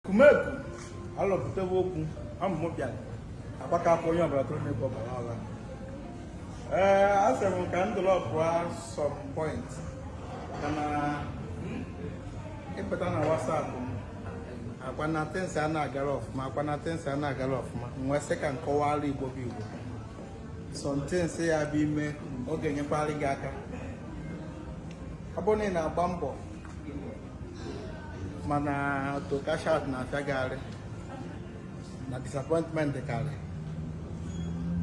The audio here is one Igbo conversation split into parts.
kumeku alọpụtawa okwu amụmụ bịara agbaka afọ onye ọbụla tụrụ n'ebe ọbara ọla ee a sị m ka m dropụọ some point maka na ịpụta na WhatsApp m ọkwa na things a na-agara ọfụma ọkwa na things a na-agara ọfụma m wee sị ka m kọwara igbo bụ igbo something ya bụ ime ọ ga-enyekwara gị aka ọ bụrụ na ị na-agba mbọ mana to cash out na-afịa gị arụ na disappointment karị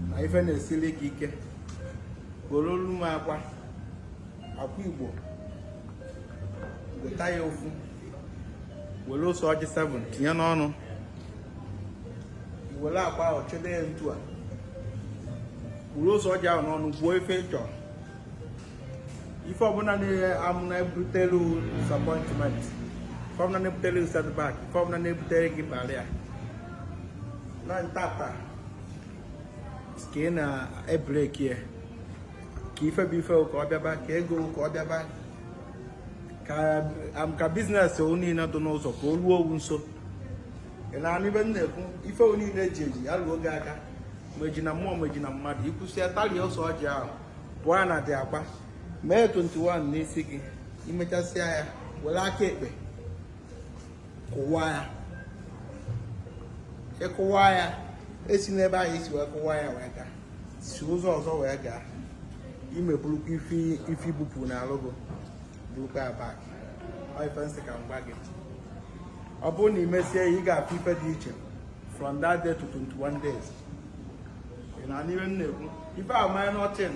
na ife na-esiri gị ike gorolu m akwa akwa igbo weta ya ofu were ose ọjị 7 tinye n'ọnụ were akwa ahụ jide ya etu a were ose ọjị ahụ n'ọnụ kwuo ife ị chọrọ ife ọbụla ị ma na-ebutelu disappointment ife ọbụla na-ebutelu setback ife ọbụla na-ebutere gị barrier na ntata ka ị na-ebreki ya ka ife bụ ife ka ọ bịaba ka ego ka ọ bịaba ka business o niile dị n'ụzọ ka o ruo owu nso ị na-anụ ife m na-ekwu ife o niile ji eji ya ruo gị aka ma esi na mmụọ ma esi na mmadụ ikwusịa talie ose ọjị ahụ bụọ ya na the akwa mee 21 n'isi gị imechasịa ya were aka ekpe kụwa ya ịkụwa ya esina ebe ahụ i si wee kụwa ya wee gaa si ụzọ ọzọ wee gaa ime burukwa ife ibupụ n'alụ gị burukwa ya back ife m sị ka m gwa gị ọ bụrụ na ị mesie ị ga-afụ ife dị iche from that day to 21 days na-anụ ihe m na-ekwu ife a minor thing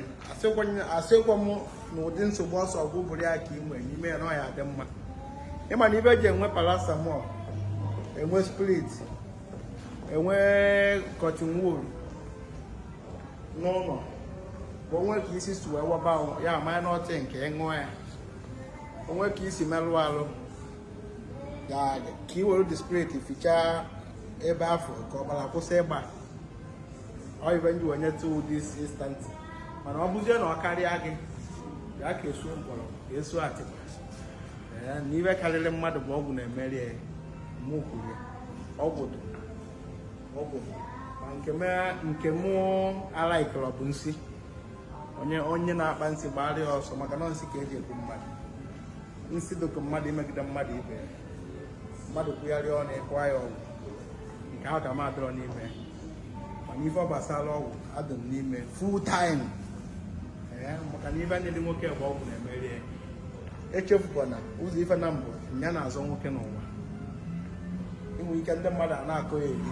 asịkwa m na ụdị nsogbu ọsọ ọgwụ bụrụ ya ka ị nwere n'ime ya na ọ ya-adị mma ịma na ife eji enwe paracetamol enwe spirit enwe cotton wool n'ụlọ bụ o nwee ka isi si wee waba ya a minor thing ka ị ṅụọ ya o nwee ka i si merụ alụ ka ị were the spirit fichaa ebe afụ ka ọbara kwụsị ịgba ife m ji wee nyetụ this instant mana ọ bụzie na ọ karịa gị ya ka esu mkpọrọ ka esu atịkpa na ife karịrị mmadụ bụ ọgwụ na-emeri ya mụ kwuru ọgwụ dị ọgwụ ma nke m alikerọ bụ nsị onye na-akpa nsị gbara ya ọsọ maka na nsị ka eji egbu mmadụ nsị dịka mmadụ imegide mmadụ ibe ya mmadụ kwugharịa ọnụ ịkwa ya ọgwụ nke ahụ ka m adịrọ n'ime mana ife ọ gbasara ọgwụ adị m n'ime full time ee maka na ife niile nwoke bụ ọgwụ na-emeri ya echefukwana ụzọ ife naabọ ya na-azọ nwoke n'ụwa inwe ike ndị mmadụ a na-akọ ya eri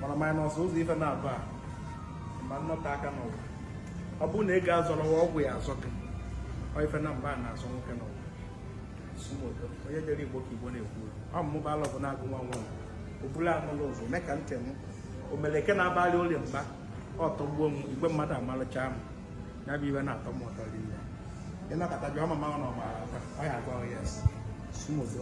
mana minus ụzọ ife naabọ a ma nnọta aka n'ụwa ọ bụrụ na ị ga-azọrọ ọgwụ ya azọ gị ọ ife naabọ a na-azọ nwoke n'ụwa onye jere igbo ka igbo na-ekwu ọ mụba alọ bụ na-agụ nwa nwa obula anụlụ ụzọ mee ka ntị m omeleke na-abalị ụlọ mba ọtọgbuo m igwe mmadụ amalụcha m ya bụ ife na-atọ m ụtọ rinne ịnọkọta jụọ mama ọ na ọmara ọ ya agwa yes sumodo